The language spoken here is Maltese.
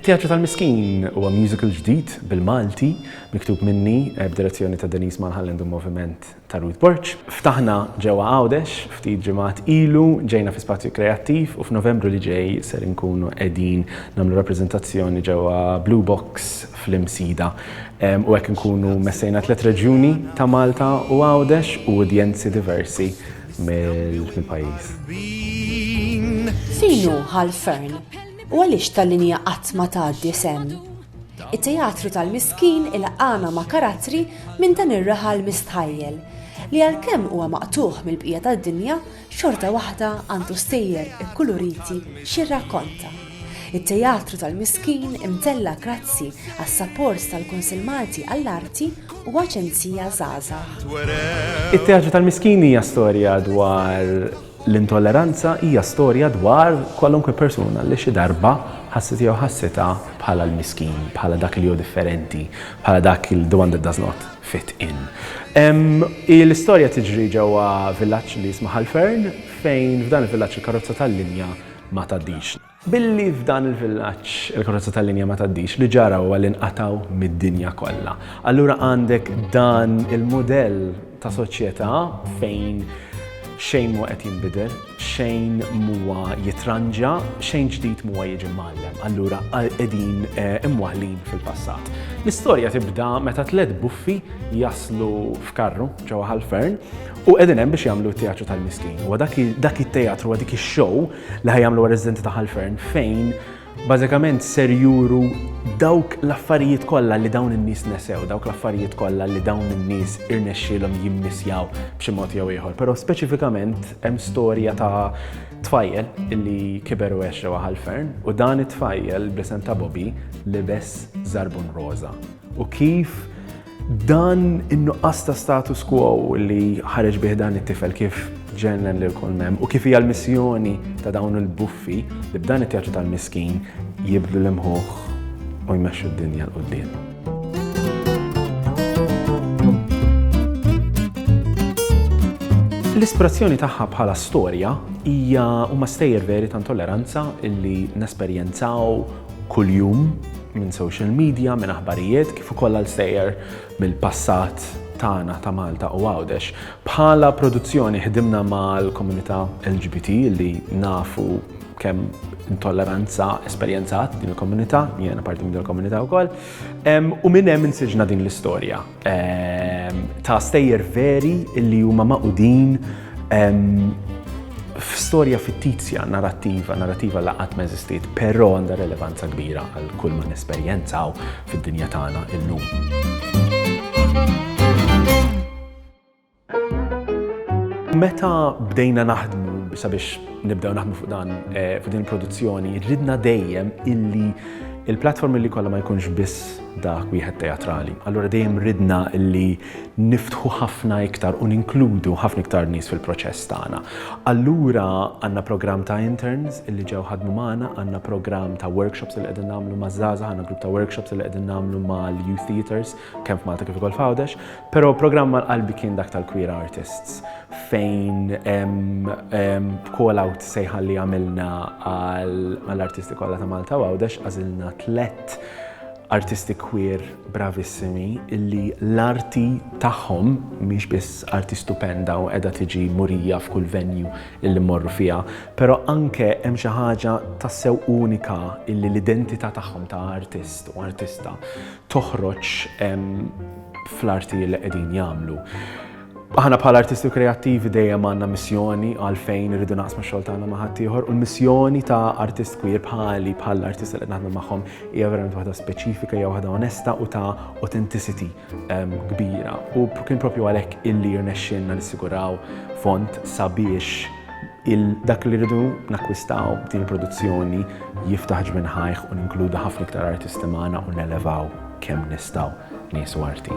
It-Teatru tal-Miskin huwa musical ġdid bil-Malti miktub minni eh, b'direzzjoni ta' Denise Malhalland u moviment ta' Ruth Borch. Ftaħna ġewwa Għawdex ftit ġimgħat ilu ġejna fi spazju kreattiv u f'Novembru li ġej ser inkunu qegħdin nagħmlu rappreżentazzjoni ġewwa Blue Box fl-Imsida. U hekk inkunu messejna tliet reġjuni ta' Malta u Għawdex u udjenzi diversi mill-pajjiż. Fejn hu Hal Fearn u għaliex ta' linja qatt ma tgħaddi sehem? It-Teatru tal-Miskin ilqagħna ma' karattri minn dan ir-raħal mistħajjel li għalkemm huwa maqtugħ mill-bqija tad-dinja, xorta waħda għandu stejjer ikkuluriti x'jirrakkonta. It-Teatru tal-Miskin imtella' grazzi għas-sapport tal-Kunsill Malti għall-Arti u Aġenzija Żgħażagħ. It-Teatru tal-Miskin hija storja dwar l-intolleranza, hija storja dwar kwalunkwe persuna li xi darba ħasset jew ħassitha bħala l-miskin, bħala dak li hu differenti, bħala dak li the one that does not. Fit in. L-istorja tiġri ġewwa villaġġ li jismu Ħal Fern fejn f'dan il-villaġġ il-karozza tal-linja ma tgħaddix. Billi f'dan il-villaġġ il-karozza tal-linja ma tgħaddix, li ġara huwa li nqatgħu mid-dinja kollha. Allura għandek dan il-mudell ta' soċjetà fejn xejn mhu qed jinbidel. xejn m'huwa jitranġa, xejn ġdid m'huwa jiġi mgħallem, allura qegħdin eh, imwaħlin fil-passat. L-istorja tibda meta tliet buffi jaslu f'karru ġewwa ħal-fern u qegħdin hemm biex jagħmlu t-teatru tal-miskin. U dak it-teatru dik ix-show li ħajamlu residenti ta' ħal-fern fejn Bażikament ser juru dawk l-affarijiet kollha li dawn in-nies nesew, dawk l-affarijiet kollha li dawn in-nies irnexxielhom jimmisjaw b'xi mod jew ieħor. Però speċifikament hemm storja ta' tfajjel illi kiber u għex ġewwa ħalfern u dan it-tfajjel bl-isem ta' Bobby libes żarbun roża. U kif Dan in-nuqqas ta' status quo li ħareġ bih dan it-tifel kif ġennen lil kull mem u kif hija l-missjoni ta' dawn il-buffi li b'dan it-teatru tal-miskin jibdlu l-imħuħ u jmexxu d-dinja l-qudiem. L-ispirazzjoni tagħha bħala storja hija huma stejjer veri ta' intolleranza illi nesperjenzaw kuljum minn social media, minn aħbarijiet kif ukoll għal sejjer mill-passat tagħna ta' Malta u Għawdex. Bħala produzzjoni ħdimna mal-komunità LGBT li nafu kemm intolleranza esperjenzat din il-komunità, jiena parti minn din il-komunità wkoll, u minn hemm insiġna din l-istorja. ta' stejjer veri li huma maqudin f'storja fittizja, narrativa, narrativa la qatt ma eżistiet, però għandha relevanza kbira għal kull ma nesperjenzaw fid-dinja tagħna illum. Meta bdejna naħdmu sabiex nibdew naħdmu fuq dan eh, fuq din il-produzzjoni, ridna dejjem illi il-platform li kollha ma jkunx biss dak wieħed teatrali. Allura dejjem ridna li niftħu ħafna iktar u ninkludu ħafna iktar nies fil-proċess tagħna. Allura għandna programm ta' interns li ġew ħadmu magħna, għandna programm ta' workshops li qegħdin nagħmlu ma' żgħażagħ, għandna grupp ta' workshops li qegħdin nagħmlu mal-youth theaters kemm f'Malta kif ukoll f'Għawdex, però programm mal qalbi kien dak tal-Queer Artists fejn b'call out sejħa li għamilna għall-artisti kollha ta' Malta u Għawdex għażilna tlett artisti queer bravissimi illi l-arti tagħhom mhix biss arti stupenda u qiegħda tiġi murija f'kull venju illi morru fiha, però anke hemm xi ħaġa tassew unika illi l-identità tagħhom ta' artist u artista toħroġ fl-arti li qegħdin jagħmlu. Aħna bħala artisti u kreattivi dejjem għandna missjoni għalfejn irridu naqsmu xogħol tagħna ma' ħaddieħor u l-missjoni ta' artist queer bħali bħal artist li naħdmu magħhom hija verament waħda speċifika hija waħda onesta u ta' authenticity ehm, kbira. U kien propju għalhekk illi rnexxinna nissiguraw font sabiex Il-dak li rridu nakkwistaw b'din il-produzzjoni jiftaħ ġbin ħajħ u ninkludu ħafna iktar artisti magħna u nelevaw kemm nistgħu nies u arti.